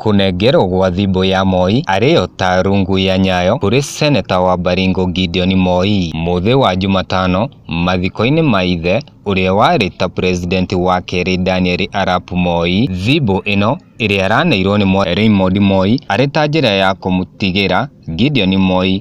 Kũnengerwo gwa thimbũ ya Moi arĩyo ta rungu ya Nyayo kũrĩ Seneta wa Baringo Gideon Moi. Mũthĩ wa Jumatano, mathiko-inĩ ma ithe, ũrĩa warĩ ta President wa kerĩ Daniel Arap Moi, thimbũ ĩno ĩrĩa araneirwo nĩ Moi Raymond Moi arĩ ta njĩra ya kũmũtigĩra Gideon Moi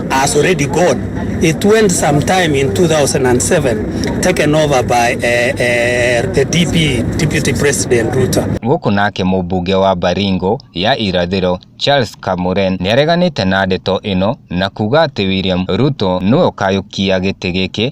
has already gone. It went sometime in 2007, taken over by uh, uh, the DP, Deputy President Ruto. Gũkũ nake mũmbunge wa Baringo ya irathĩro Charles Kamuren nĩareganĩte na ndeto ĩno na kuga atĩ William Ruto nĩwe ũkayũkia gĩtĩ gĩkĩ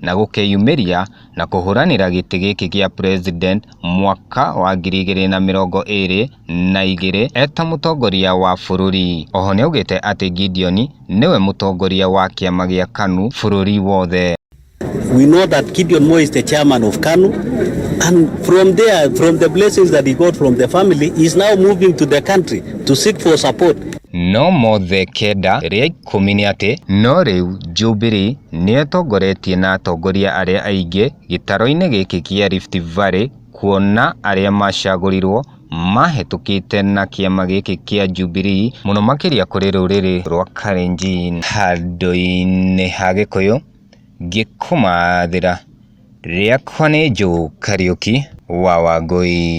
na gũkeyumĩria na kũhũranĩra gĩtĩ gĩkĩ gĩa President mwaka wa ngiri igĩrĩ na mĩrongo ĩrĩ na igĩrĩ eta mũtongoria wa bũrũri. Oho nĩaugĩte atĩ Gideon nĩwe mũtongoria wa kĩama gĩa KANU bũrũri wothe. We know that Gideon Moi is the chairman of KANU and from there from the blessings that he got from the family he is now moving to the country to seek for support. No mothe kenda rĩa ikũmi nĩ atĩ, no rĩu Jubilee nĩetongoretie na atongoria arĩa aingĩ gĩtaroinĩ gĩkĩ kĩa Rift Valley kuona arĩa macagũrirwo mahetũkĩte na kĩama gĩkĩ kĩa Jubilee mũno makĩria kũrĩ rũrĩrĩ rwa Kalenjin handũinĩ ha Gĩkũyũ, ngĩkũmathĩra. Rĩakwa nĩ Joe Kariuki wa Wangũi.